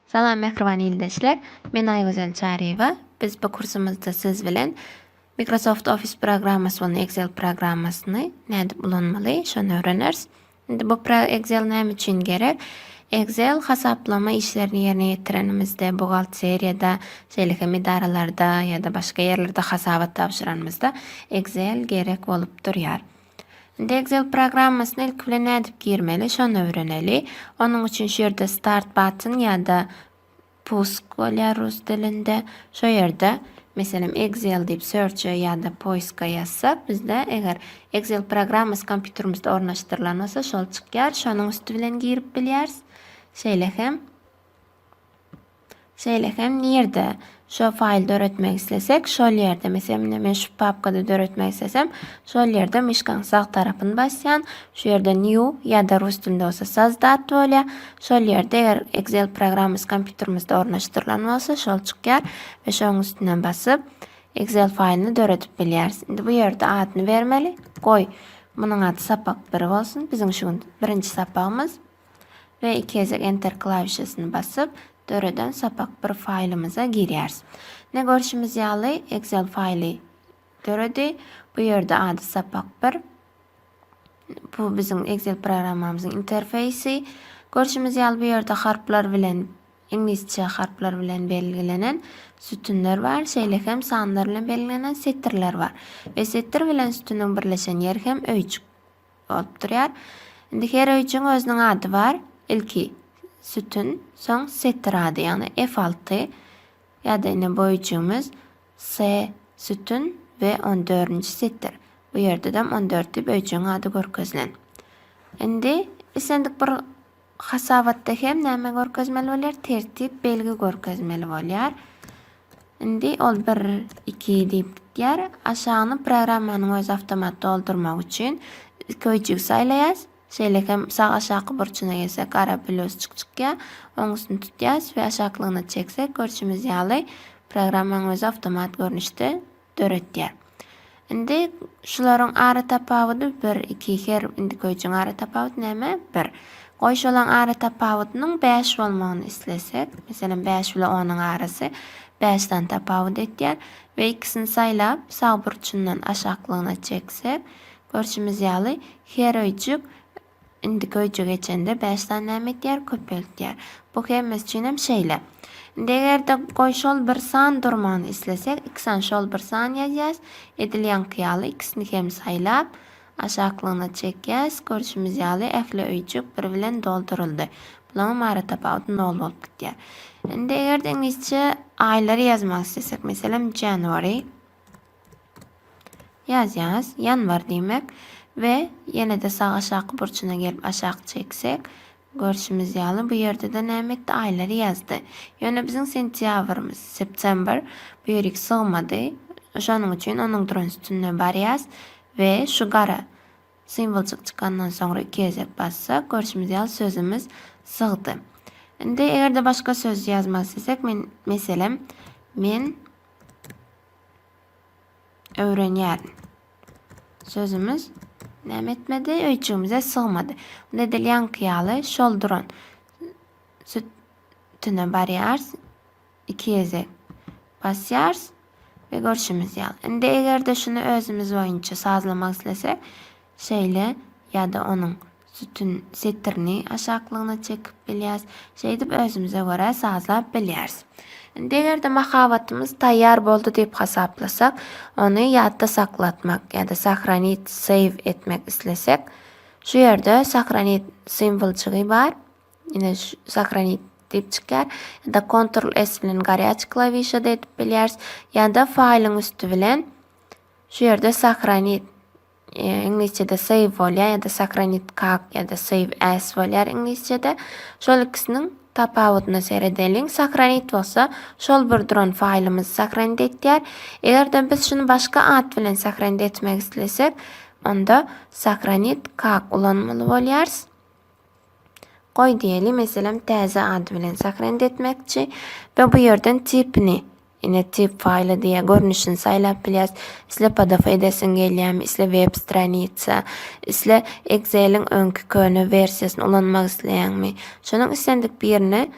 Salam mähriban ildeşler. Men Aýgözel Çaryýewa. Biz bu kursumyzda siz bilen Microsoft Office programmasy bolan Excel programmasyny nädip ulanmaly, şony öwreneris. Indi bu program Excel näme üçin gerek? Excel hasaplama işlerini ýerine ýetirenimizde, buhgalteriýada, şeýle hem edaralarda ýa-da başga ýerlerde hasabat tabşyranymyzda Excel gerek bolup durýar. Indi Excel programmasyna ilki bilen nädip girmeli, şony öwreneli. Onuň üçin şu ýerde Start button ýa-da Pusk bolýar rus dilinde. Şo ýerde, meselem, Excel diýip search-e ýa-da poiska ýazsak, bizde eger Excel programmasy kompýuterimizde ornaşdyrylan bolsa, şol çykýar. Şonuň üsti bilen girip bilýäris. Şeýle hem şeýle hem nirde şo faýl döretmek islesek, şol ýerde, meselem, indi men şu papkada döretmek islesem, şol ýerde myşkaň sag tarapyny basýan, şu ýerde new ýa-da rus dilinde bolsa sozdat bolýar. Şol ýerde eger Excel programmasy kompýuterimizde ornaşdyrylan bolsa şol çykýar we şoň üstüne basyp Excel faýlyny döredip bilýäris. Indi bu ýerde adyny bermeli. Goý, munuň ady sapak 1 bolsun. Biziň şu gün birinji sapagymyz. we iki gezek enter klawişasyny basyp döreden sapak bir faýlymyza girýäris. Ne görşümiz ýaly Excel faýly döredi. Bu ýerde ady sapak bir. Bu biziň Excel programmamyzyň interfeýsi. Görşümiz ýaly bu ýerde harplar bilen, iňlisçe harplar bilen belgilenen sütünler bar, şeýle hem sanlar bilen belgilenen setirler bar. We setir bilen sütüniň birleşen ýeri hem öýjük bolup durýar. Indi her öýjügiň özüniň ady bar. Ilki sütün, soň setir ady, ýagny F6 ýa-da ine bu öýjügimiz. Se, sütün we on dördünji setir. Bu ýerdedem on dört diýip öýjügiň ady görkezilen. Indi islendik bir hasabatda hem näme görkezmeli bolýar? Tertip belgi görkezmeli bolýar. Indi ol bir, iki diýip gitýär. Aşagyny programmanyň özi awtomat doldurmak üçin iki öýjügi saýlaýas. Şeýle hem sag aşaky burçuna gelsek gara pölosçyk çykýar. Oň üstüni tutýas we aşaklygyna çeksek görşümiz ýaly programmaň özi awtomat görnüşde döretýär. Indi şularyň ara tapawudy bir, iki her indi köýjüň ara tapawudy näme? Bir. Goý şolaň ara tapawudynyň bäş bolmagyny islesek, meselem bäş bile onuň arasy bäş sany tapawut etýär we ikisini saýlap sag burçundan aşaklygyna çeksek Görşümiz ýaly, her öýjük indiki öýjüge geçende bäş sany näme etýär? Köpeltýär. Bu hemmesi üçin hem şeýle. Indi eger-de goý şol bir san durmagyny islesek, x-a şol bir san ýazýas. Edil ýaňky ýaly x-ni hem saýlap, aşaklygyna çekýäs. Görşümiz ýaly, ähli öýjük bir bilen dolduryldy. Bulaňam ara tapawudy nol bolup gidýär. Indi eger-de iňlisçe aýlary ýazmak islesek, meselem, January. Ýazýaňyz, ýanwar diýmek we ýene-de sag aşaky burçuna gelip aşak çeksek, görşümiz ýaly, bu ýerde-de näme etdi, aýlary ýazdy. Ýöne biziň sentýabrymyz, September, bu ýerik sygmady. Şonuň üçin onuň duran sütünine barýas we şu gara simwoljyk çykandan soňra iki gezek bassak, görşümiz ýaly, sözümiz sygdy. Indi eger-de başga söz ýazmak islesek, men, meselem, men, öwrenýärin. Sözümiz näme etmedi? Öýjügimize sygmady. Unda edil ýaňky ýaly şol duran sütüne barýarys. Iki gezek basýarys we görşümiz ýaly. Indi eger-de şuny özümiz boýunça sazlamak islesek, şeýle ýa-da onuň Sütün setirini aşaklygyna çekip bilýäris. Şeýdip özümize görä sazlap bilýäris. Indi eger-de mahabatymyz taýýar boldy diýip hasaplasak, ony ýatda saklatmak ýa-da sahranit, save, etmek islesek, şu ýerde sahranit simwoljygy bar. Ine şu sahranit diýip çykýar. Ýa-da Ctrl S bilen garýaç klawişada edip bilýäris. Ýa-da faýlyň üsti bilen şu ýerde sahranit Iňlisçede save bolýar ýa-da sahranit kak ýa-da save as bolýar iňlisçede. Şol ikisiniň tapawudyna seredeliň. Sahranit bolsa şol bir duran faýlymyzy sahranit etýär. Eger-de biz şuny başga at bilen sahranit etmek islesek, onda sahranit kak ulanmaly bolýarys. Goý diýeli, meselem, täze ady bilen sahrend etmekçi we bu ýerden tipini, ine, tip faýly diýýär, görnüşini saýlap bilýäris. Isle pdf edesiň gelýärmi, isle web stranitsa, isle Excel-iň öňki köne wersiýasyny ulanmak isleýäňmi? Şonuň islendik birine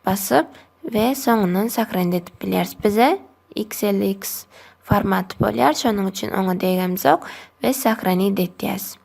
basyp we soňundan sahrend edip bilýäris. Bize XLX formaty bolýar, şonuň üçin oňa degemzok we sahranit edýäs.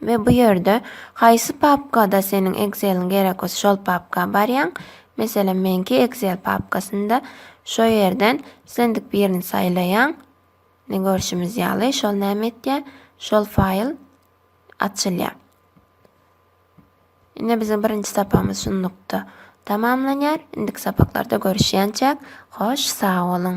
we bu ýerde haýsy papkada seniň Exceliň gerek bolsa şol papka barýaň. Meselem meňki Excel papkasynda şo ýerden islendik birini saýlaýaň. Ne görşümiz ýaly şol näme etýär? Şol faýl açylýar. Ine biziň birinji sapamyz şunlukda tamamlanýar. Indiki sapaklarda görüşýänçäk hoş sag boluň.